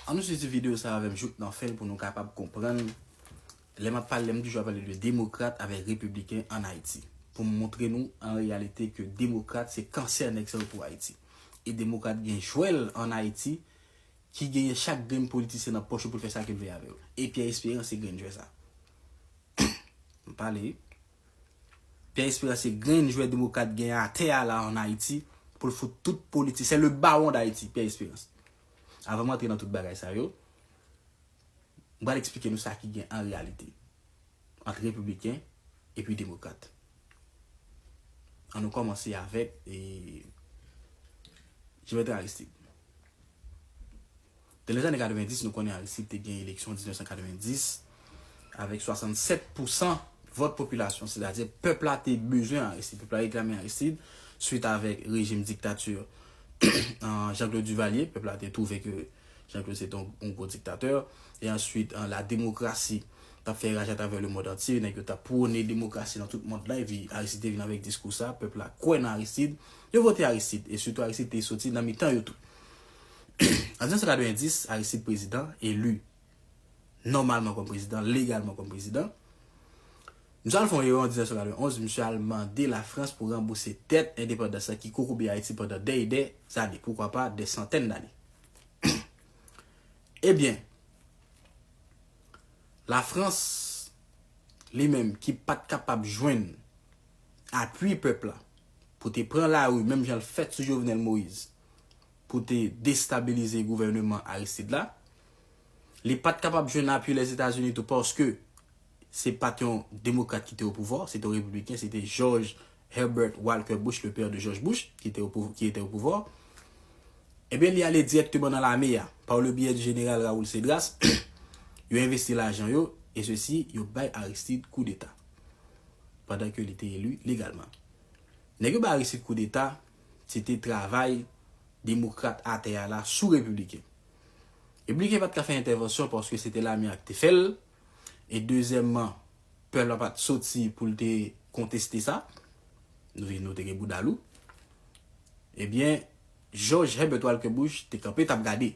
An nou swiv ti video sa avèm jouk nan fen pou nou kapab konprann lè map pale lèm toujou ap pale de demokrat avèk repibliken an Ayiti poum moutre nou an reyalite ke demokrat se kansè nèg sa yo pou Ayiti e demokrat gen jwèl an Ayiti ki genyen chak grenn politisyen nan pòch yo poul fè sa kel vle avè yo e Pierre Espérance se grenn jwè sa m pale wi. Pierre Esperance se grenn jwè demokrat genyen atè a la an Ayiti pou l fout tout politisyen. Se le baron d'Haiti, Pierre Esperance. Avan m antre nan tout bagay sa yo, m pral eksplike nou sa ki gen an reyalite ant repibliken epi demokrat. An nou kòmanse avèk Jovenel Aristide. Nan lèzane 90, nou konnen Aristide te gen eleksyon 1990 avèk 67 pousan vòt popilasyon, sètadi pèp la te bezwen Aristide, pèp la reklame Aristide, swit avèk rejim diktati Jean Claude Duvalier, pèp la te twouve ke Jean Claude se te yon gwo diktatè, e answit la demokrasi t ap fè raj atravè le mond antye, nèg yo t ap pwone demokrasi nan tout mond la, epi Aristide te vin avèk diskou sa, pèp la kwè nan Aristide, yo vote Aristide, e sitou Aristide te soti nan mitan yo tou. An 1990, Aristide prezidan, eli nòmalman kòm prezidan, legalman kòm prezidan. Misye al fè yon erè an 1991, misye al mande Lafrans pou ranbouse dèt endepandans la ki kokobe Ayiti pandan dè e dè zane, poukwa pa dè santèn dane. Ebyen, Lafrans li menm ki pa t kapab jwenn apui pèp la pou te pran lari menm jan l fèt sou Jovenel Moïse pou te destabilize gouvèneman Aristide la. Li pa t kapab jwenn apui Lèzetazini tou paske se pa t yon demokrat ki te opouvwa, se te yon repibliken, se te George Herbert Walker Bush, le père de George Bush, ki te opouvwa. Ebyen li ale dirèkteman nan lame a, par le biais du général Raoul Cédras, yo envesti lajan yo, e sesi yo bay Aristide koudeta, pandan ke li te eli legalman. Nèg yo bay Aristide koudeta. se te travay demokrat atè a la sou repibliken. Repibliken pa t ka fè entèvansyon paske se te lame a ki te fè l, e dezyèmman, pèp la pa t soti pou l te konteste sa, nou vin nou te gen bouda lou, ebyen Jòj Hèbèt Walkè Bush te kanpe t ap gade.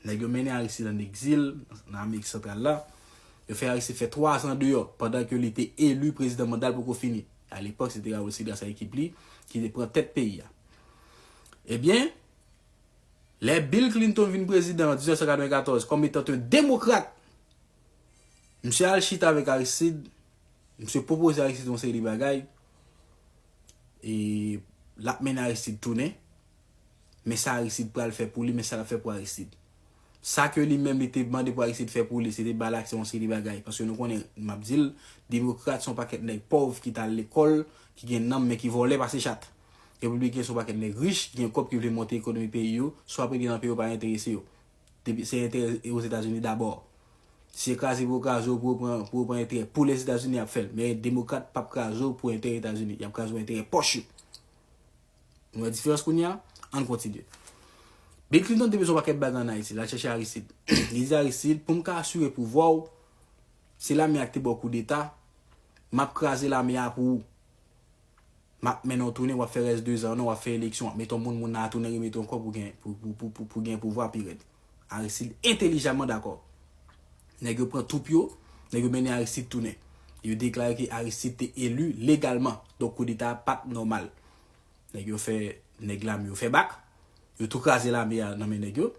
Nèg yo mennen Aristid ann egzil nan Amerik Santral la, yo fè Aristid fè twazan deyò pandan ke li te eli prezidan manda l poko fini. A lepòk se te Raoul Cedras ak ekip li ki te pran tèt peyi a. Ebyen, lè Bill Clinton vin prezidan an 1994 kòm etant yon demokrat, misye al chita avèk Aristide, misye pwopoze Aristide yon seri de bagay, e l ap mennen Aristide tounen, men sa Aristide pral fè pou li, men sa l ap fè pou Aristide. Sa ke li menm li te mande pou Aristide fè pou li, se te ba l aksè yon seri de bagay. Paske nou konnen, m ap di l, demokrat se yon pakèt nèg pòv ki t al lekòl, ki gen nanm men ki vòlè pase chat. Repibliken se yon pakèt nèg rich, ki gen kòb ki vle monte ekonomi peyi yo, swa pou yo te nan peyi yo pa enterese yo. Depi se enterè Ozetazini dabò. Si se kraze pou yo kraze w pou yo pran, pou yo pran enterè pou Lèzetazini y ap fè l. Men demokrat p ap kraze w pou enterè Etazini. Y ap kraze w enterè pòch yo. Nou wè diferans kounye a? Ann kontinye. Bill Clinton te bezwen yon pakèt bagay ann Ayiti. L al chèche Aristide. Li di Aristide, pou m ka asire pouvwa w, se lame a ki te ba w koudeta, m ap kraze lame a pou ou. M ap mennen w tounen, w ap fè rès dezan w nan, w ap fè eleksyon, w ap mete yon moun, moun nan a tounen remete w ankò pou w gen pouvwa pi rèd. Aristide entelijaman dakò. Nèg yo pran twoup yo, nèg yo mennen Aristide tounen. Yo deklare ke Aristide te eli legalman, donk koudeta a pa t nòmal. Nèg yo fè nèg lame yo fè bak, yo tou kraze lame a nan men nèg yo,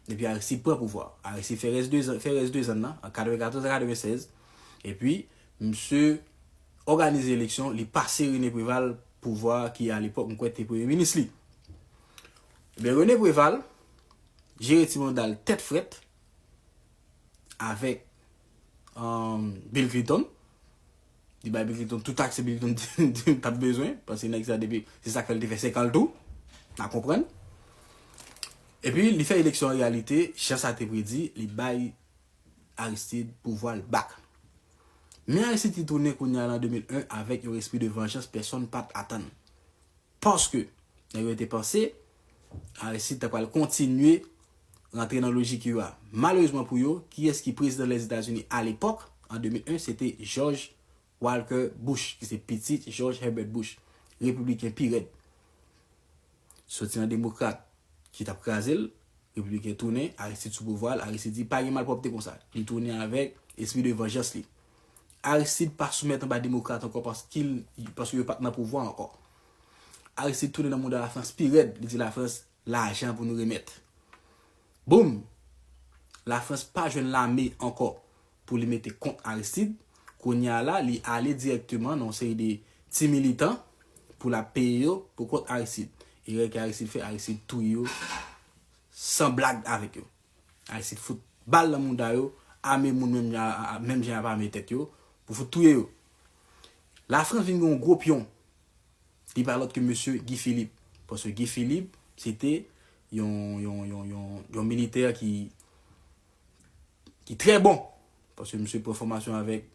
epi Aristide pran pouvwa a. Aristide fè rès dezan, fè rès dezan l lan, an 94 a 96, epi misye òganize eleksyon, li pase René Préval pouvwa a ki alepòk m kwè te premye minis li. Ebyen Rene Preval jere ti manda l tèt frèt avèk Bill Clinton. Li bay Bill Clinton tout aksè Bill Clinton t ap bezwen. Paske nèg sa depi se sa k fè l te fè 5 an l tou. Na konprann. Epi li fè eleksyon an reyalite jan sa te predi. Li bay Aristide pouvwa l bak. Men Aristide ki tounen kounya lan 2001 avèk yon espri de vanjans pèsonn pa t atann. Paske, nèg yo te panse, Aristide ta pral kontinye rantre nan lojik yo a. Malerezman pou yo, kiyès ki prezidan Lèzetazini alepòk, an 2001, se te Jòj Walker Bush, ki se pitit Jòj Herbert Bush, repibliken pi rèd. Soti nan demokrat ki t ap kraze l, repibliken tounen, Aristide sou pouvwa l, Aristide di pa gen malpwòpte konsa. Li tounen avèk espri de vanjans li. Aristide pa soumèt anba demokrat ankò paskil paske yo pat nan pouvwa ankò. Aristide tounen nan mouda Lafrans pi rèd, li di Lafrans lajan pou nou remèt. Boom! Lafrans pa jwenn lame ankò pou li mete kont Aristide, kounye a la li ale dirèkteman nan yon seri de ti militan pou lap peye yo pou kont Aristide. Erè ke Aristide fè, Aristide touye yo san blag avèk yo. Aristide fout bal nan mouda yo ame moun menm jan menm jan yap ame tèt yo pou fout touye yo la France vin gen yon gwo pyon li pa lòt ke mesye Guy Philippe paske Guy Philippe se te yon yon yon yon yon militè ki ki trè bon paske misye pran fòmasyon avèk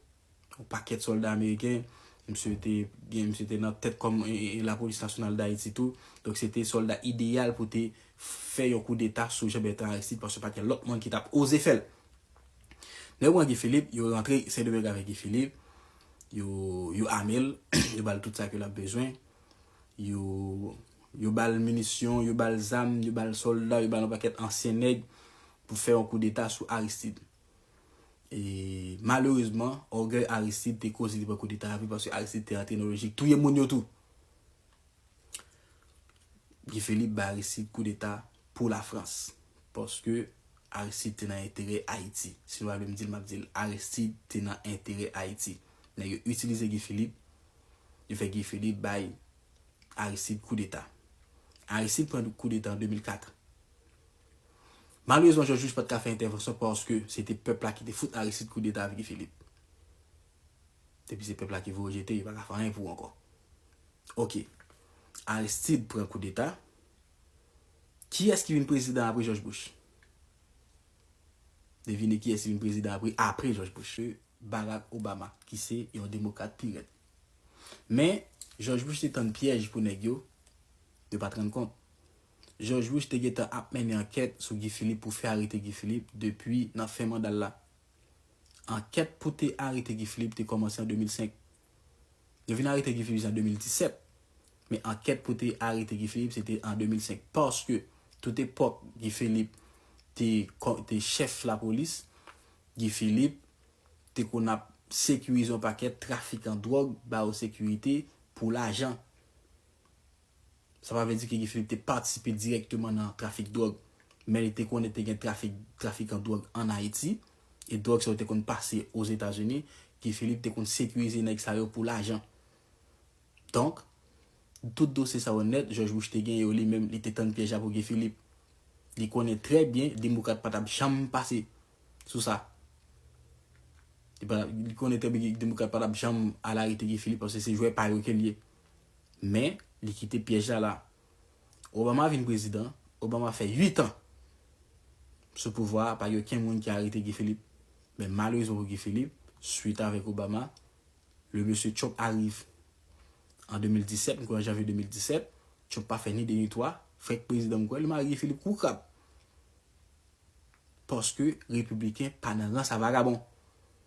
yon pakèt sòlda ameriken, misye te gen, misye te nan tèt kòm la polis nasyonal dayiti tou, donk se te sòlda ideyal pou te fè yon koudeta sou Jean Bertrand Aristide paske pat gen lòt moun ki tap oze fèl. Lè yo pran Guy Philippe, yo rantre Sendomeng avèk Guy Philippe, yo yo amel, yo bal tout sa ke lap bezwen, yo yo bal minisyon, yo bal zam, yo bal sòlda, yo bal yon pakèt ansyen nèg pou fè yon koudeta sou Aristide. E malerezman, ògèy Aristide te koze li pran koudeta a vre paske Aristide te antre nan lojik touye moun yo tou. Guy Philippe bay Aristide koudeta pou Lafrans paske Aristide te nan enterè Ayiti. Si nou pa vle m di l, m ap di l Aristide te nan enterè Ayiti. Nèg yo itilize Guy Philippe, yo fè Guy Philippe bay Aristide koudeta. Aristide pran koudeta an 2004. Malerezman Jòj Louis pat ka fè entèvansyon paske se te pèp la ki te fout Aristide koudeta ak Guy Philippe. Depi se pèp la ki voye jete yo pa ka fè anyen pou ankò. Ok. Aristide pran koudeta. Kiyès ki vin prezidan apre Jòj Bush? Devine kiyès ki vin prezidan apre apre Jòj Bush? Barack Obama ki se yon demokrat pi rèd. Men Jòj Bush te tann pyèj pou nèg yo, yo pat rann kont. Jòj Bush te gentan ap mennen ankèt sou Guy Philippe pou fè arete Guy Philippe depi nan fen manda l la. Ankèt pou te arete Guy Philippe te kòmanse an 2005. Yo vin arete Guy Philippe jis an 2017. Men ankèt pou te arete Guy Philippe se te an 2005. Paske tout epòk Guy Philippe te te chèf lapolis, Guy Philippe te konn ap sekirize yon pakèt trafikan dwòg, ba yo sekirite pou lajan. Sa pa vle di ke Guy Philippe te patisipe dirèkteman nan trafik dwòg, men li te konnen te gen trafik, trafikan dwòg an Ayiti, e dwòg sa yo te konn pase Ozetazini, Guy Philippe te konn sekirize nèg sa yo pou lajan. Donk, tout dosye sa yo nèt, Jòj Bush te gen yo li menm, li te tann pyèj la pou Guy Philippe. Li konnen trè byen Demokrat pa t ap janm pase sou sa. Li pa, li konnen trè byen Demokrat pa t ap janm al arete Guy Philippe, paske se jwè pa yo ke l ye. Men, li kite pyèj la la. Obama vin prezidan, Obama fè 8 an sou pouvwa a, pa gen okenn moun ki arete Guy Philippe. Men malerezman pou Guy Philippe, swit avèk Obama, le mesye Trump arive an 2017, m kwè an janvye 2017, Trump pa fè ni 2 ni 3, frenk prezidan m kwè, li mare Guy Philippe kou krab. Paske repibliken pa nan rans a vagabon.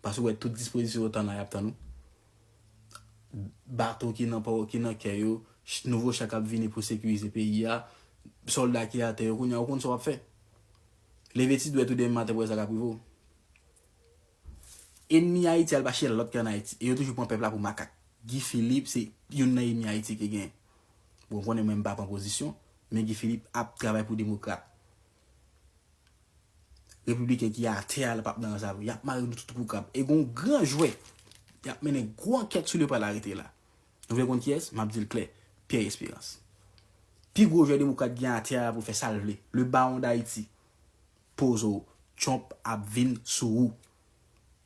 Paske ou wè tout dispozisyon yo tan la y ap tann ou. Bato ki nan pò yo, ki nan kè yo, nouvo cha k ap vini pou sekirize peyi a, sòlda ki atè yo, kounye a ou konn sa w ap fè. Leve ti dwèt ou demen maten pou wè sa k ap rive w. Enmi Ayiti a li pa chèche lòt ke ann Ayiti e yo toujou pran pèp la pou makak. Guy Philippe se youn nan enmi Ayiti ki genyen. Bon, ou konnen mwen m pa pran pozisyon, men Guy Philippe ap travay pou demokrat. Repibliken ki atè a la pap nan rans avè yo. Yap mare nou tout kou krab. E gen yon gran jwè ki ap mennen gwo ankèt sou li yo pral arete la. Nou vle konn kiyès? Map di l klè, Pierre Espérance. Pi gwo jwè demokrat gen atè a pou l fè sa l vle. Le Baron d'Haiti. Poze w, Trump ap vin sou ou.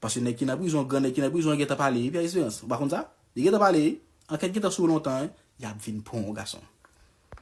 Paske nèg ki nan prizon, gran nèg ki nan prizon an gentan pale wi Pierre Espérance. Ou pa konn sa? Li gentan pale wi. Ankèt gentan sou ou lontan wi. Yap vin pran w gason.